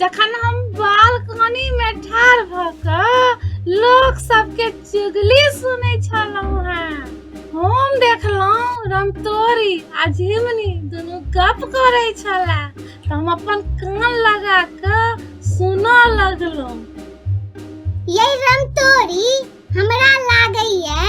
जखन हम बालकनी मे ठाढ़ भ क लोक सबके चुगली सुनै छलहुँ हैं हम देखलहुँ रमतोरी आ झिमनी दुनू गप करै छला तऽ हम अपन कान लगा कऽ सुनऽ लगलहुँ यही रमतोरी हमरा लागैए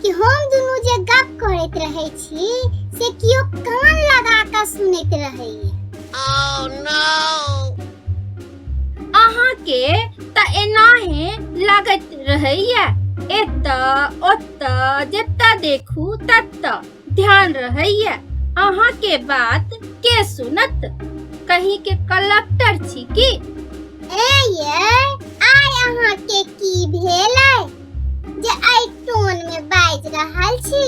कि हम दुनू जे गप करैत रहै छी से कियो कान लगा कऽ सुनैत रहैए Oh no! अहाँके तऽ एनाहे लगैत रहैया एतऽ ओतऽ जतऽ देखू ततऽ ध्यान रहैया अहाँ के बात के सुनत कहीं के कलक्टर छी की ए ये आय अहाँ के की भेल है जे आई टोन में बाज रहल छी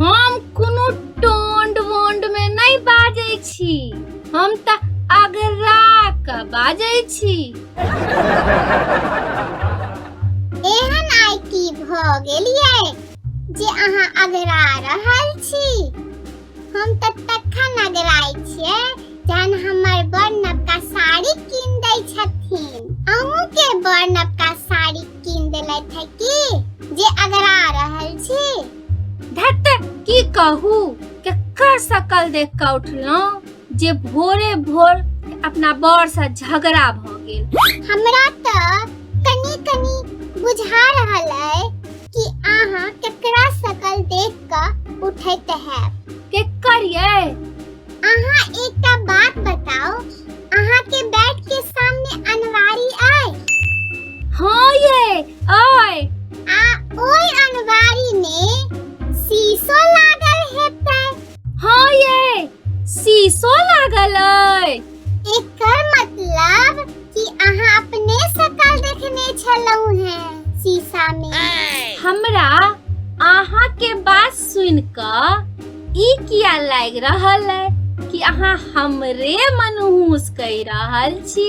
हम कोनो टोंड वोंड में नहीं बाजै छी हम त अगरा क बाजै छी एहन आई की भ गेलिए जे अहाँ अगरा रहल छी हम तऽ तखन अगराइ छियै जहन हमर बड़ नवका साड़ी कीन दै छथिन अहूँके बड़ नवका साड़ी कीन देलथि है की जे अगरा रहल छी धत की कहू केकर सकल देख कऽ उठलहुँ जे भोरे भोर अपना बड़सँ झगड़ा भऽ गेल हमरा तऽ कनी कनी बुझा रहल अइ कि अहाँ केकरा सकल देख कऽ उठैत हैब केकर ये अहाँ एकटा बात बताओ अहाँ के बेड के सामने अनवारी आए हाँ ये आए आ ओई अनवारी में शीशो लागल हेतै हाँ ये शीशो लागल अइ एकर मतलब कि अहाँ अपने सकल देखने छलहुँ हैं शीशा में हमरा अहाँ के बात सुन क ई किया लाग रहल है कि अहाँ हमरे मनहूस कह रहल छी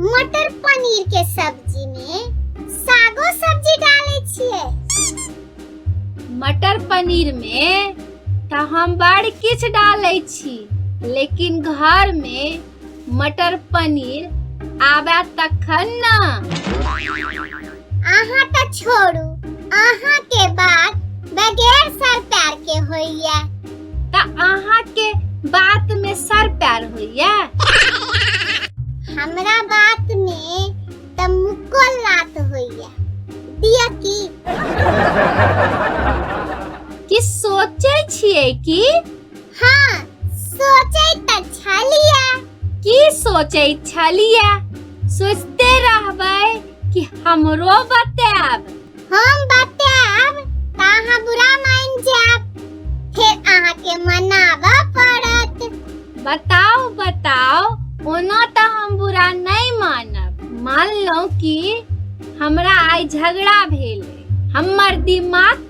मटर पनीर के सब्जी में सागो सब्जी डाले छिए मटर पनीर में तो हम बड़ किछ डाले छी लेकिन घर में मटर पनीर आबे तखन ना अहाँ तऽ छोड़ू अहाँ के बात बगैर सर पैर के होइया तऽ अहाँ के बात में सर पैर होइया हमरा बात में तऽ मुक्को लात होइया दिया की कि सोचे छिए कि हाँ सोचे त छलिया की सोचे छलिया सोचते रहबै कि हमरो बताब हम बताब त अहाँ बुरा मान जाब फिर अहाँ के मनाब पड़त बताओ बताओ ओना त हम बुरा नहीं मानब मान लो कि हमरा आई झगड़ा भेल हमर दिमाग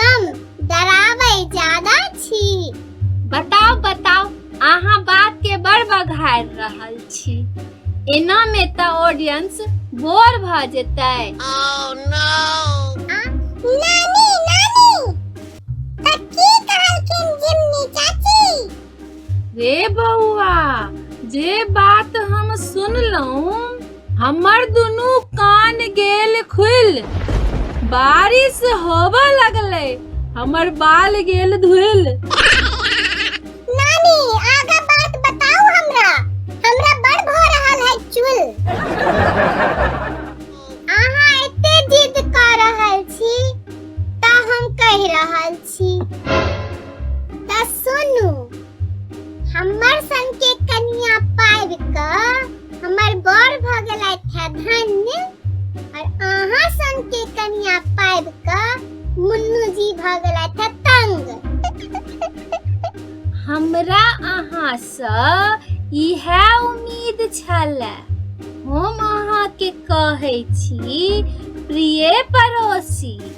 कम डराबै ज्यादा छी बताओ बताओ अहाँ बात के बड़ बघार रहल छी एना में त ऑडियंस बोर भ जेतै oh, no. नानी रे बौआ जे बात हम सुनलहुँ हमर दुनू कान गेल खुल बारिश होब लगलै हमर बाल गेल धुल नानी आगा बात बताओ हमरा हमरा बड़ भ रहल है चुल अहाँ एते जिद कर रहल छी त हम कह रहल छी छी तऽ सुनू हमर सन के कन्या पाबि कऽ हमर बर भऽ गेलथि है धन्य और अहाँ सन के कन्या पाबि कऽ मुन्नू जी भऽ गेलथि है तंग हमरा अहाँसँ इहे उम्मीद छलए हम अहाँके कहै छी प्रिय पड़ोसी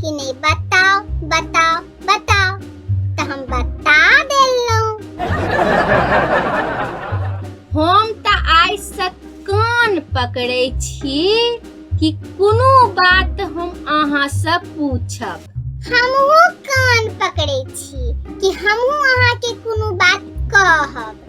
कि नहीं बताओ बताओ बताओ तो हम बता देलू हम तो आइ से कान पकड़े छी कि कोनो बात हम अहाँ से पूछब हमहू कान पकड़े छी कि हमहू अहाँ के कोनो बात कहब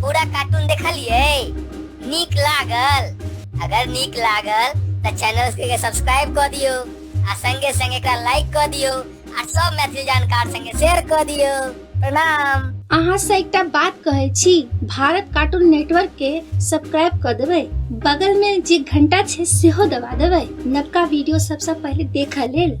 पूरा कार्टून देखलिए नीक लागल अगर नीक लागल तो चैनल के सब्सक्राइब कर दियो आ संगे संगे एकरा लाइक कर दियो आ सब मैथिली जानकार संगे शेयर कर दियो प्रणाम अहाँ से एकटा बात कहै छी भारत कार्टून नेटवर्क के सब्सक्राइब कर देबै बगल में जे घंटा छै सेहो दबा देबै नवका वीडियो सबसे पहले देखऽ लेल